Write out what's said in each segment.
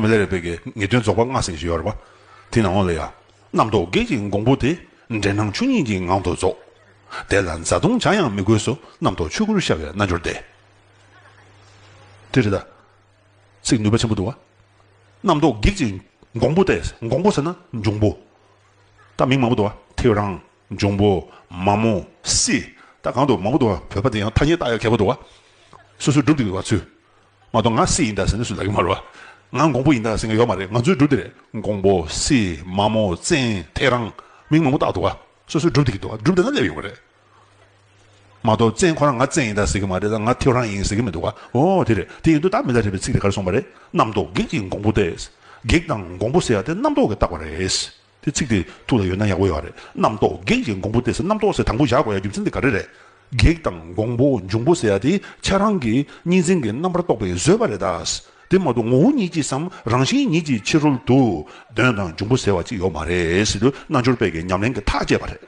མི་ལ་རས་པའི་གེགས་ངེས་དོན་རྫོགས་པར་སྔགས་ཟིན་ཞེས་ཡོད་རེ་བ། དེ་ནང་ལ་ཡང། རྣམ་རྟོག་གེགས་ཀྱི་འགོང་པོ་དེ། འདྲེན་སྣང་ཆོས་ཉིད་ཀྱི་ངང་དུ་རྫོགས། དེ་ལ་འཛའ་བརྡུང་བྱ་ཡང་མི་དགོས་སོ། རྣམ་རྟོག་ཆོས་སྐུར་ཤར་བའི་རྣལ་འབྱོར་ཏེ། དེ་རེ་ད། ཚིག་ནུས་པ་ཆེན་པོ་འདུག། རྣམ་རྟོག་གེགས་ཀྱི་འགོང་པོ་སྟེ། འགོང་པོ་ཟེར་ན་འབྱུང་པོ། ད་མིང་མང་པོ་འདུག། ཐེའུ་རང། འབྱུང་པོ། མ་མོ། སྲི། ད་གང་དུ་མང་པོ་འདུག་བ་བོད་པ་འདི་ཡང་ཐ་སྙད་བཏགས་ཡ་གལ་པོ་འདུག་བ། སོ་སོའི་སྒྲུབ་འདི་འདུག་བ་ཚུལ། མ་གཏོགས་ང་སྲི་ཡིན་ད་ཟེར་ནི་སུ་ལ་གི་མ་རེད་བ། ང་འགོང་པོ་ཡིན་ད་ཟེར་ནི་ཡོག་མ་རེད་ང་ཚོའི་སྒྲུབ་འདི་རེད། འགོང་པོ། སྲི། མ་མོ། བཙན། ཐེ་རང། མིང་མང་པོ་བཏགས་འདུག་བ། སོ་སོའི་སྒྲུབ་འདི་གི་འདུག་བ་སྒྲུབ་འདི་ན་སླེབས་ཡོང་གི་རེད། མ་གཏོགས་བཙན་ཁོ་རང་ང་བཙན་ཡིན་ད་ཟེར་གི་མ་རེད་ད་ང་ཐེའུ་རང་ཡིན་ཟེར་གི་མི་འདུག་བ། ཨོ་དེ་རེད་དེ་ཡིན་དུ་ད་མི་ད་རེད་པའི་ཚིག་དེ་ག་རེ་སོང་བ་རེད། རྣམ་རྟོག་བགེགས་ཀྱིས་འགོང་པོ་སྟེ། བགེགས་དང་འགོང་པོ་ཟེར་ཡ་དེ་རྣམ་རྟོག་གིས་བཏགས་པ་རེད། དེ་ཚིག་དེ་ཐུགས་ལ་ཡོད་ན་ཡག་པོ་ཡོད་རེད། རྣམ་རྟོག་བགེགས་ཀྱི་འགོང་པོ་སྟེ་ཟེར་རྣམ་རྟོག་ཟེར་དང་པོ་བཞག་དགོས་ཡ་རྒྱུ་མཚན་དེ་ག་རེ་རེད། བགེགས་དང་འགོང་པོ་འབྱུང་པོ་ཟེར་ཡ་དེ་ཁྱེད་རང་གི་གཉིས་འཛིན་གྱི་རྣམ་པར་རྟོག་པའི་བཟོད་པ་རེད་ད། དེ་མ་གཏོགས་ངོ་བོ་ཉིད་ཀྱིས་སམ་རང་བཞིན་ཉིད་ཀྱིས་ཕྱི་རོལ་དུ་གདོན་དང་འབྱུང་པོ་ཟེར་བ་ཅིག་ཡོད་མ་རེད་ཟེར་དུས་རྣལ་འབྱོར་པས་ཀྱི་ཉམས་ལེན་གྱི་ཐག་བཅད་པ་རེད།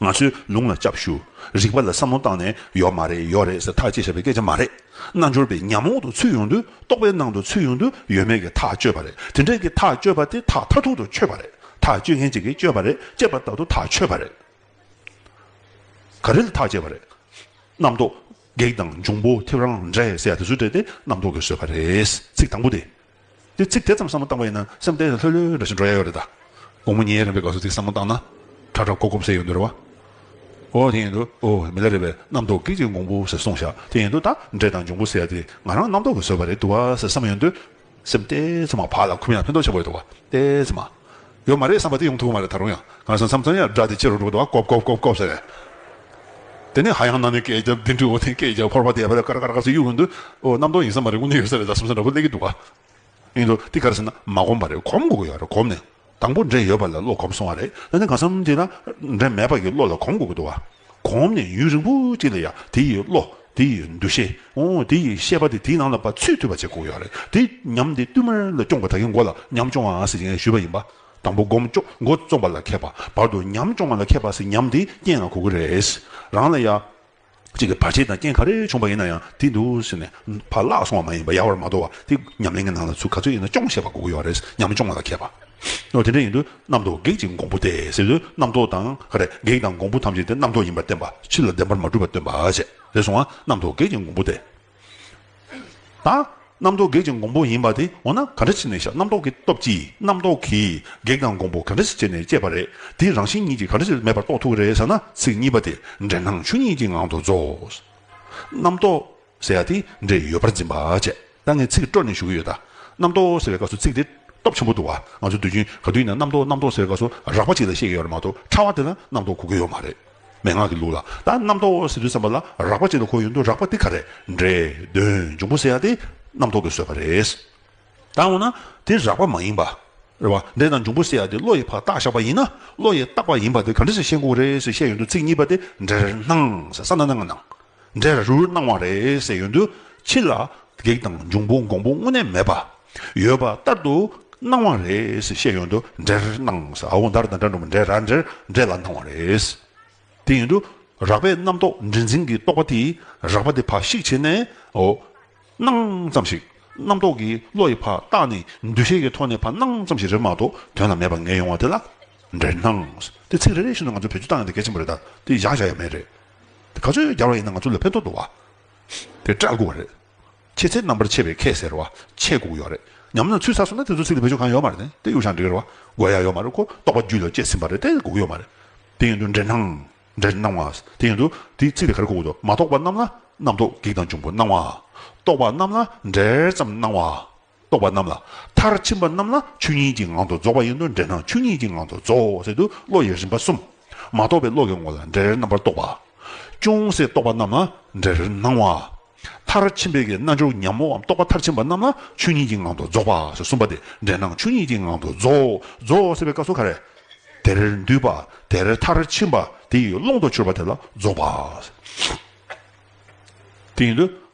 ང་ཚོའི་ལུང་ལ་སྐྱབས་ཞུ། རིག་པ་ལ་བསམ་བློ་བཏང་ནས་ཡོད་མ་རེད་ཡོད་རེད་ཟེར་ཐག་བཅད་བྱས་པའི་སྐད་ཆ་མ་རེད། རྣལ་འབྱོར་པའི་ཉམས་འོག་ཏུ་ཚུད་ཡོང་དུས་རྟོག་པའི་ནང་དུ་ཚུད་ཡོང་དུས་ཡོད་མེད་ཀྱི་ཐག་གཅོད་པ་རེད་དེ་འདྲ་གི་ཐག་གཅོད་པ་དེ་ཐག་མཐའ་ཐུག་ཏུ་ཆོད་པ་རེད་ཐག་གཅོད་མཁན་གཅིག་གིས་གཅོད་པ་རེད་གཅད་པ་ལྟ་བུ་ཐག་ཆོད་པ་རེད། ག་རེ་ལ་ཐག་བཅད་པ་རེད། རྣམ་རྟོག་བགེགས་དང་འབྱུང་པོ་ཐེབས་རང་འདྲ་ཟེར་ཡ་དེ་ཚོ་བྲལ་ཏེ་རྣམ་རྟོག་གིས་བཟོས་པ་རེད། ཚིག་དང་པོ་དེ། དེ་ཚིག་དེ་ཙམ་བསམ་བློ་བཏང་བ་ཡིན་ན་སེམས་གཏན་ནས་ལྷོད་ལྷོད་རེ་ཞིག་འགྲོ་ཡ་ཡོད་རེད་ད། དགོང་མོ་ཉལ་རན་པའི་སྐབས་སུ་ཚིག་བསམ་བློ་བཏང་ན། ཁྲ་ཁྲ་ཀོ་ཀོ་བསད་ཡོད་འདོད་རེད་བ། ཨོ་དེ་ཡིན་དུས་ཨོ་མི་ལ་རེད་པས་རྣམ་རྟོག་གིས་ཀྱིས་འགོང་པོ་ཟེར་སོང་བཞག་དེ་ཡིན་དུས་ད་འདྲེ་དང་འབྱུང་པོ་ཟེར་ཡ་དེ་ང་རང་རྣམ་རྟོག་གིས་བཟོས་པ་རེད་འདུག་བ་ཟེར་བསམ་ཡོད་འདོད། སེམས་གཏན་ཚེ་མ་བག་ལ་འཁུམ་ཡ་ཕན་ཐོགས་ཆེན་པོ་ཡོད་འདུག་བ། གཏན་ཚེ་མ། ཡོད་མ་རེད་བསམ་པ་དེ་ཡོང་ཐུབ་ཀྱི་མ་རེད་ད་རུང་ཡང་གང་བསམ་བསམ་ཙམ་ཡང་སྒྲ་དེ་ཕྱི་རུ་སྒྲོག་དུ་བ་ཀོབ་ཀོབ་ཀོབ་ཀོབ་ཟེར། དེ་ནས་ཧ་ཡང་གནམ་ནས་སྐད་རྒྱབ་ལྡིང་དུས་འོ་དེ་སྐད་རྒྱབ་ཕོར་པ་དེ་ཡར་ཀར་ཀར་ཀར་ཟེར་གཡུག་གིན་འདུག་འོ་གནམ་སྟོང་ཡིན་ས་མ་རེད་དངོས་གནས་ཡོད་ས་རེད་ད་བསམ་ས་འདྲ་པོ་གླེགས་ཀྱི་འདུག་ཨེ་འདུག་འདི་ག་རེད་ཟེར་ན་མ་གོམས་པ་རེད་གོམས་དགོས་ཀྱི་ཡོད་རེད་གོམས་ནས་དང་པོ་འདྲེན་ཡོད་པ་ལས་བློ་གོམས་སོང་བ་རེད་ད་ནི་གང་བསམ་དེ་ན་འདྲེན་མེད་པ་གྱི་བློ་ལ་གོམས་དགོས་ཀྱི་འདུག་བ། གོམས་ནས་ཡུན་རིང་པོ་ཅིག་ལ་ཡང་དེ་ཡི་བློ། དེ་ཡི་འདུ་ཤེས། དེ་ཡི་ཤེས་པ་དེ་དེའི་ནང་ལ་བ་ཚུད་ཐུབ་པ་བྱེད་དགོས་ཡོད་རེད་དེ། ཉམས་དེ་བསྟུད་མར་ལ་སྐྱོང་བ་དག་གི་མགོ་ལ་ཉམས་སྐྱོང་བ་ཟེར་གྱིན་ཞུས་པ་ཡིན་པ། དང་པོ་སྒོམ་སྐྱོ་མགོ་རྩོམ་པ་ལ་མཁས་པ་བར་དུ་ཉམས་སྐྱོང་བ་ལ་མཁས་པ་ཟེར་ཉམས་དེ་རྐྱེན་ལ་གོ་དགོས་རེད། རང་ལ་ཡ། གཅིག་གི་བར་ཆད་དང་རྐྱེན་ག་རེ་བྱུང་བ་ཡིན་ན་ཡང་དེ་འདུག་ཟེར་ནས་བར་བརླག་སོང་བ་མ་ཡིན་པར་ཡལ་བར་མ་དོར་བར་དེ་ཉམས་ལེན་གྱི་ནང་ལ་ཚུད་ག་ཚོད་ཡིན་ན་སྐྱོང་ཤེས་པ་གོ་དགོས་ཡོད་རེད་ཉམས་སྐྱོང་བ་ལ་མཁས་པ། ནོ། དེ་འདྲ་ཡིན་དུས་རྣམ་རྟོག་བགེགས་ཀྱི་འགོང་པོ་སྟེ་ཟེར་དུས་རྣམ་རྟོག་དང། བགེགས་དང་འགོང་པོ་ཐམས་ཅད་དེ་རྣམ་རྟོག་ཡིན་པར་བསྟན་པ་ཕྱི་ལ་བདེན་པར་མ་གྲུབ་པར་སྟོན་པ་བྱས། རེ་ཟུང་བ་རྣམ་རྟོག་བགེགས་ཀྱི་འགོང་པོ་སྟེ། དང། རྣམ་རྟོག་བགེགས་ཀྱི་འགོང་པོ་ཡིན་པ་དེ་འོ་ན་ག་འདྲ་བྱས་ནས་ཤ་རྣམ་རྟོག་གི་སྟོབས་ཀྱིས་རྣམ་རྟོག་གིས་བགེགས་དང་འགོང་པོ་ག་འདྲ་ཞིག་བྱས་ནས་བསྐྱེད་པ་རེད་དེའི་རང་བཞིན་ཉིད་ཀྱིས་ག་འདྲ་ཞིག་མེད་པར་རྟོགས་ཐུབ་ཀྱི་རེད་བསམ་ན་ཚིག་གཉིས་པ་དེ་འགྲེལ་སྣང་ཆོས་ཉིད་ཀྱི་ངང་དུ་རྫོགས། རྣམ་རྟོག། ཟེར་ཡག་དེ་འདྲས་ཡོད་པར་འཛིན་པ་བྱས། ད་ངས་ཚིག་སྤྲོ་ནས་ཞུ་གི་ཡོད། རྣམ་རྟོག་ཟེར་བའི་སྐབས་སུ་ཚིག་དེ། སྟོབས་ཆེན་པོ་འདུག་བ། ང་ཚོས་དུས་རྒྱུན་ག་དུས་ཡིན་ན་རྣམ་རྟོག་རྣམ་རྟོག་ཟེར་བའི་སྐབས་སུ་རགས་པ་ཅིག་ལ་བཤད་ཀྱི་ཡོད་རེད་མ་གཏོགས་ཕྲ་བ་དེ་ལ་རྣམ་རྟོག་གོ་གི་ཡོད་མ་རེད། མན་ངག་གི་ལུགས་ལ་ད་རྣམ་རྟོག་ཟེར་དུས་བསམ་པ་ལ་རགས་པ་ཅིག་ལ་གོ་ཡོད་འདུག་རགས་པ་དེ་ག་རེད། འདྲེ། གདོན། འབྱུང་པོ་ཟེར་ཡག་དེ། རྣམ་རྟོག་གིས་བཟོས་པ་རེད། ད་འོ་ན། དེ་རགས་པ་མ་ཡིན་པ། རེད་བ། འདྲེ་དང་འབྱུང་པོ་ཟེར་ཡག་དེ་བློ་ཡི་ཕག་རྟགས་ཞགས་པ་ཡིན་ན། བློ་ཡི་རྟགས་པ་ཡིན་པ་དེ་ག་འདྲ་ཞིག་བཤད་འགོ་བ་རེད་ཟེར་བཤད་ཡོད་འདུག་ཚིག་གཉིས་པ་དེ་འདྲེར་སྣང། ཟེར་ས་ན་ན་ང་སྣང། འདྲེ་རུ་རུ་སྣང་བ་རེ་ཟད་ཡོད་འདུག་ཕྱི་ལ་བགེགས་དང་འབྱུང་པོ་འགོང་པོ་དངོས་གནས་མེད་པ། ཡོད་པ་ལྟར་དུ་སྣང་བ་རེ་ཟད་བཤད་ཡོད་འདུག་འདྲེར་སྣང་ཟ་འོ་འདར་དང་སྒྲ་འགྲོ་མ་འདྲེ་ར་འདྲེར་འདྲེ་ལ་སྣང་བ་རེ་ཟད་དེ་ཡོད་འདུག་རགས་པའི་རྣམ་རྟོག་འདྲེ་འཛིན་གྱི་རྟོག་པ་དེས་རགས་པ་དེ་ཕ་ཤིག་བྱས་ནས་འོ། སྣང་ཙམ་ཞིག་རྣམ་རྟོག་གི་བློ་ཡི་ཕ་རྟགས་ནི་འདུ་ཤེས་ཀྱི་ཐོག་ནས་ཕ་སྣང་ཙམ་ཞིག་རེད་མ་གཏོགས་དོན་ལ་མེད་པ་ངེས་ཡོང་བ་དེ་ལ་འདྲེར་སྣང་དེ་ཚིག་རེ་རེ་བཞིན་དུ་ང་ཚོས་བེད་སྤྱོད་བཏང་ཡང་དེ་གལ་ཆེན་པོ་རེད་ད་དེ་བཞག་བཞག་ཡ་མེད་རེད། ག་ཚོད་རྒྱག་རོགས་ཡིན་ན་ང་ཚོ་ལ་ཕན་ཐོག་འདུག་བ། དེ་སྐྲག་དགོས་རེད། ཁྱེད་ཚེ་རྣམ་པར་ཆེ་བའི་ཁས་ཟེར་བ་ཆེ་སྒུག་ཡོག་རེད་ཉམ་ན་ཚུལ་ས་སོ་ན་དེ་ཚོ་ཚིག་ལ་བེད་སྤྱོད་གང་ཡོག་མ་རེད་དེ་གཡུ་ཞང་འབྲི་གར་བ་དགོས་ཡག་ཡོག་མ་རེད་ཁོ་རྟོག་པ་རྒྱུད་ལ་སྐྱེས་ཟིན་པ་རེད་དེ་སྒུག་ཡོག་མ་རེད་དེ་ཡིན་དུ་འདྲེ་སྣང་འདྲེ་སྣང་བ་དེ་ཡིན་དུ་དེ་ཚིག་ལ་གར་སྒུག་འདུག་མ་རྟོག་པ་རྣམས་ལ་རྣམ་རྟོག་གེགས་དང་འབྱུང་པོ་སྣང་བ་རྟོག་པ་རྣམས་ལ་འདྲེར་ཙམ་སྣང་བ། རྟོག་པ་རྣམས་ལ། མཐར་ཕྱིན་པ་རྣམས་ལ་ཆོས་ཉིད་ཀྱི་ངང་དུ་རྫོགས་པ་ཡིན་ནོ་འབྲས་རྣམས་ཆོས་ཉིད་ཀྱི་ངང་དུ་རྫོགས་ཟེར་དུ་བློ་ཡི་རིམ་པ་གསུམ། མ་རྟོགས་པའི་བློ་གྱི་ངོ་ལ་འབྲས་རྣམ་པར་རྟོག་པ། ཅུང་ཟད་རྟོགས་པ་རྣམས་ལ་འབྲས་སྣང་བ། མཐར་ཕྱིན་པའི་རྣལ་འབྱོར་ཉམས་མོའམ་རྟོགས་པ་མཐར་ཕྱིན་པ་རྣམས་ལ་ཆོས་ཉིད་ཀྱི་ངང་དུ་རྫོགས་པ་ཟེར་གསུམ་པ་སྟེ་འབྲས་རྣམས་ཆོས་ཉིད་ཀྱི་ངང་དུ་རྫོགསརྫོགས་ཟེར་བའི་སྐབས་སུ་ཁ་རེ། དེར་འདུས་པ་དེར་མཐར་ཕྱིན་པ་དེ་ཡི་ཀློང་དུ་གྱུར་པ་དེ་ལ་རྫོགས་པ། དེ་ཡིན་དུ།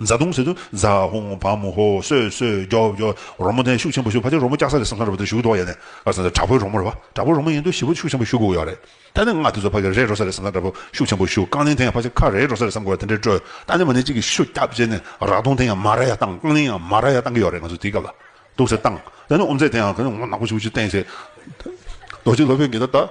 བཟའ་བཏུང་ཟེར་དུས་ཛ་ཧུང་བ་མོ་ཧོ་སོད་སོད་རྒྱོ་རྒྱོ། རོལ་མོ་ཐན་ཤུགས་ཆེན་པོ་ཞུགས་ཕ་ཆེར་རོལ་མོ་སྐྱག་ས་རེད་བསམ་བསམ་རེད་བ་དེ་ཞུགས་དོགས་ཡས་ནས་ཨ་བཟའ་ཟའ་དྲག་པོའི་རོལ་མོ་རེད་བ་དྲག་པོའི་རོལ་མོ་ཡིན་དུས་ཞི་བོ་ཤུགས་ཆེན་པོ་ཞུགས་དགོས་ཀྱི་ཡོད་རེད་ད་ནས་ང་དེ་ཚོ་ཕ་ཁེར་རེད་རོལ་ས་རེད་བསམ་བསམ་དྲག་པོ་ཤུགས་ཆེན་པོ་ཞུགས་རྐང་གླིང་ཐན་ཡང་ཕ་ཆེར་ཁ་རེད་རོལ་ས་རེད་བསམ་དགོས་ཡ་དེ་འདྲའི་སྤྲོ་ད་ནས་མ་ནས་གཅིག་གིས་ཤུ་རྒྱབ་བྱས་ནས་རག་དུང་ཐན་ཡང་མ་ར་ཡ་བཏང་རྐང་གླིང་ཡང་མ་ར་ཡ་བཏང་གི་ཡོད་རེད་ང་ཚོ་དེའི་སྐབས་ལ་སྡུག་ཟེར་བཏང་ད་ནས་ཨོམ་རྩེད་དེ་ཡང་ངོ་ནག་པོ་ཞུགས་ཅིག་བསྟན་ཟེར་རྡོ་རྗེ་སློབ་དཔོན་གྱིས་ད་ལྟ།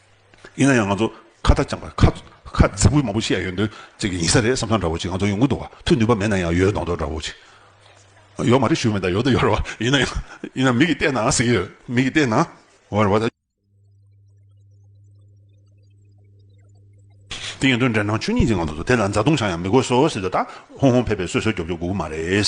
ཡིན་ན་ཡང་ང་ཚོ་ཁ་བརྡ་སྦྱངས་པ་ཁག་ཁ་རྫིག་པོ་མང་པོ་ཤི་ཡ་ཡོད་འདོད་ཅིག་གི་ཡིན་ས་རེད་བསམ་སང་འདྲ་བོ་ཅིག་ང་ཚོ་ཡོང་གི་འདུག་བ་ཐུག་ནུས་པ་མེད་ན་ཡང་ཡོད་འདོང་འདོད་འདྲ་བོ་ཅིག་ཡོད་མ་རེད་ཞུ་མེད་ད་ཡོད་ད་ཡོད་རེད་བ་ཡིན་ན་ཡང་ཡིན་ན་མིག་གིས་བལྟས་ན་ཟིག་གི་ཡོད་མིག་གིས་བལྟས་ན་འོ་རེད་བ། དེ་ཡིན་དུས་འདྲེ་ནག་ཆོས་ཉིད་ཀྱིས་ང་ཚོ་དེ་ལ་མཛའ་བརྡུང་བྱ་ཡང་མི་དགོས་སོ་ཟེར་དུས་ད་ཧོང་ཧོང་ཕེ་ཕེ་སོད་སོད་རྒྱོབ་རྒྱོབ་དགོས་ཀྱི་མ་རེད།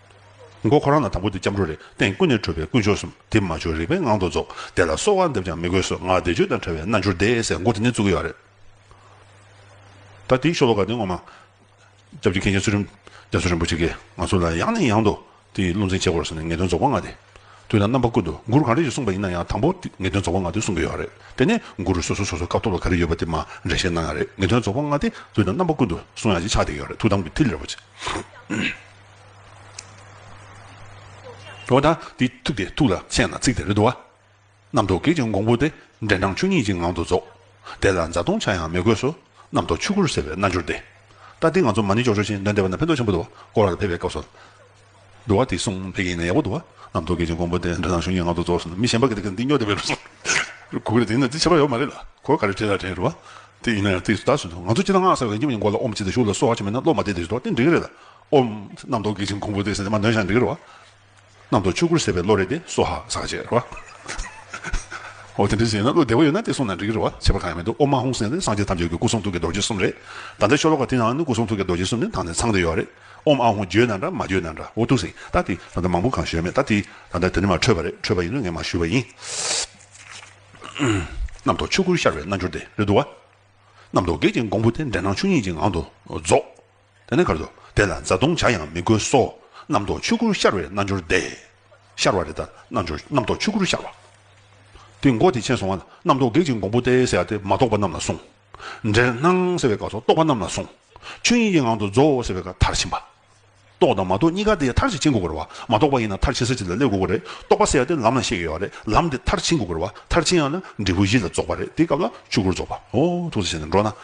མགོ་ཁོ་རང་ལ་དང་པོ་དེ་སྐྱབས་འགྲོ་རེད་སྟེང་ཀུན་ནས་འཕྲོས་པའི་དཀོན་མཆོག་གསུམ་དེ་མ་བྱོས་རིག་པའི་ངང་དུ་རྫོགས་དེ་ལ་གསོལ་བ་འདེབས་ཀྱང་མི་དགོས་སོ་ངག་བཟླས་བརྗོད་དང་བྲལ་བའི་རྣལ་འབྱོར་བཟླས་ཟེར་མགོ་དེ་ནས་བཙུགས་ཡོད་རེད། ད་དེའི་ཤོ་ལོ་ཀ་དེ་ངོ་མ། སྐྱབས་ཀྱི་མཁན་ཆེན་ཚུལ་ཁྲིམས་རྒྱ་མཚོ་རིན་པོ་ཆེ་ཀས་ང་ཚོ་ལ་ཡང་ནས་ཡང་དུ་དེ་ཡི་བློ་འཛིན་བྱེད་དགོས་ཟེར་ནས་ངེས་དོན་རྫོགས་པ་ང་དེ། དུས་དང་རྣམ་པ་ཀུན་ཏུ་མགུར་གང་རེ་ཞིག་གསུངས་པ་ཡིན་ན་ཡང་དང་པོ་དེ་ངེས་དོན་རྫོགས་པ་ང་དེ་གསུངས་ཀྱི་ཡོད་རེད་དེ་ནས་མགུར་སོ་སོ་སོ་སོའི་སྐབས་ཐོག་ལ་ག་རེ་ཡོད་པ་དེ་མ་འདྲེས་བཤད་གནང་ཡང་རེད་ངེས་དོན་རྫོགས་པ་ང་དེ་དུས་དང་རྣམ་པ་ཀུན་ཏུ་གསུང་ཡ་གཅིག་ཆགས་བསྡད་ཡོད་རེད་ཐུགས་དམ་གྱི་མཐིལ་རེད་པོ་ཆེ། འོ་ན་དེ་ཐུབ་སྟེ་ཐུགས་ལ་མཁྱེན་ན་ཚིག་དེ་རེ་དུ་བ། རྣམ་རྟོག་གེགས་ཀྱི་འགོང་པོ་སྟེ། འབྲས་ནང་ཆུ་གཉིས་ཀྱི་ངང་དུ་རྫོགས། དེ་ལ་འཛག་སྟོང་ཆ་ཡང་མི་དགོས་སོ། རྣམ་རྟོག་ཆུ་ཁུར་ཟེར་བའི་རྣལ་འབྱོར་ཏེ། ལྟ་དེ་ང་ཚོ་མ་ནི་ཅོག་ཅོག་ཅན་དོན་འདས་པ་ན་ཕན་ཐོགས་ཆེན་པོ་དུ་བ། སྐོར་ལ་ཕེབས་པའི་སྐབས་སུ། དུ་བ་དེ་གསུངས་ཕལ་གྱི་ཡིན་ན་ཡག་པོ་དུ་བ། རྣམ་རྟོག་གེགས་ཀྱི་འགོང་པོ་སྟེ་འབྲས་ནང་ཆུ་གཉིས་ངང་དུ་རྫོགས་ཟེར་ན་མི་གཞན་པ་གི་འདི་སྨྱོ་སྡེ་བའི་ལུགས་སོ། གུ་གེ་རེ་དེ་ཡིན་ན་དེ་བྱེད་པ་ཡོད་མ་རེད་ལ་གོ་ག་རེ་བྲིས་ལ་དྲན་རུ་བ། དེ་ཡིན་ན་ཡང་དེ་ཟླ་ཟུན་དུ་ང་ཚོ་སྤྱི་ལ་སྔགས་ཟེར་བ་གཉིས་པ་ནི་མགོ་ལ་ཨོམ་བྱེད་དུ་གཞུག་ལ་སོ་བ་བྱེད་མེད་ན་བློ་མ་བདེ་དེ་བཞུགས་ཏོ་དེ་འགྲིག་གི་རེད་ལ། ཨོ། རྣམ་རྟོག་གེགས་བྱིན་གོང་བུ་དེ། མ་འདོན་ཞག་འདི་གྱུར་བ། རྣམ་རྟོག་ཆོས་སྐུར་ཟད་པའི་བློ་རེ་དེ། སོ་ཧ་ཟག་བཅས་རེ་བ། ཨོ། དེ་འདྲའི་ཟས་ཡོད་ན་བློ་བདེ་བོ་ཡོད་ན་དེ་བསྲུངས་ན་འགྲིག་གི་རེ་བ། བྱེད་པ་གང་ཡང་མི་འདུག་ཨོ་མ་ཧཱུྃ་སེང་ནི་སངས་རྒྱས་ཐམས་ཅད་ཀྱི་སྐུ་གསུང་ཐུགས་ཀྱི་རྡོ་རྗེ་གསུམ་རེད། ད་ལྟའི་ཤོ་ལོ་ཀ་དེ་ཡང་ནི་སྐུ་གསུང་ཐུགས་ཀྱི་རྡོ་རྗེ་གསུམ་ནི་ད་ནས་ཚང་དུ་ཡོད་རེད། ཨོ་མ་ཧཱུྃ་བརྗོད་ན་འདྲ་མ་བརྗོད་ན་འདྲ་ཨོ་ཐུགས་སེང་ད་དེ་ད་ལྟ་མང་པོ་གང་ཞོལ་མེད་ད་དེ་ད་ལྟ་དེ་ནི་མ་འཕྲོད་པ་རེད་འཕྲོད་པ་ཡིན་ན་ངས་མ་ཞུས་པ་ཡིན། རྣམ་རྟོག་ཆོས་སྐུར་ཤར་བའི་རྣལ་འབྱོར་དེ་རེད་འདུག་བ། རྣམ་རྟོག་གེགས་བྱིན་གོང་བུ་དེ་འདྲེན་སྣང་ཆོས་ཉིད་ཀྱི་ངང་དུ་རྫོགས། དེ་ནས་གར་དུ་བདེ་ལ་བཟའ་བཏུང་བྱ་ཡང་མི་དགོས་སོ། རྣམ་རྟོག་ཆོས་སྐུར་ཤར་བའི་རྣལ་འབྱོར་བདེ། ཤར་བ་རེ་ལྟར་རྣལ་འབྱོར་རྣམ་རྟོག་ཆོས་སྐུར་ཤར་བ། དེ་མགོ་དེ་ཆེན་སོང་བ་ལ་རྣམ་རྟོག་བགེགས་ཀྱི་འགོང་པོ་སྟེ་ཟེར་བ་དེ་མ་རྟོགས་པ་རྣམས་ལ་གསུངས། འདྲེར་སྣང་ཟེར་བའི་སྐབས་སོགས་རྟོགས་པ་རྣམས་ལ་གསུངས། ཆོས་དབྱིངས་ཀྱི་ངང་དུ་རྫོགས་ཟེར་བའི་སྐབས་མཐར་ཕྱིན་པ། རྟོགས་དང་མ་རྟོགས་གཉིས་ཀ་དེ་མཐར་ཕྱིན་དགོས་དགོས་རེད་བ། མ་རྟོགས་པ་ཡིན་ན་མཐར་ཕྱིན་ས་གཅིག་ལ་སླེབས་དགོས་དགོས་རེད། རྟོགས་པ་ཟེར་བ་དེ་ལམ་ལ་གཤེགས་ཡོད་བ་རེད། ལམ་དེ་མཐར་ཕྱིན་དགོས་དགོས་རེད་བ། མཐར་ཕྱིན་ཡང་ན་འབྲས་བུ་བཞི་ལ་རྫོགས་པ་རེད་དེའི་སྐབས་ལ་ཆོས་སྐུར་རྫོགས་པའོ། ཐུགས་སུ་བྱས་ནས་འགྲོ་ན།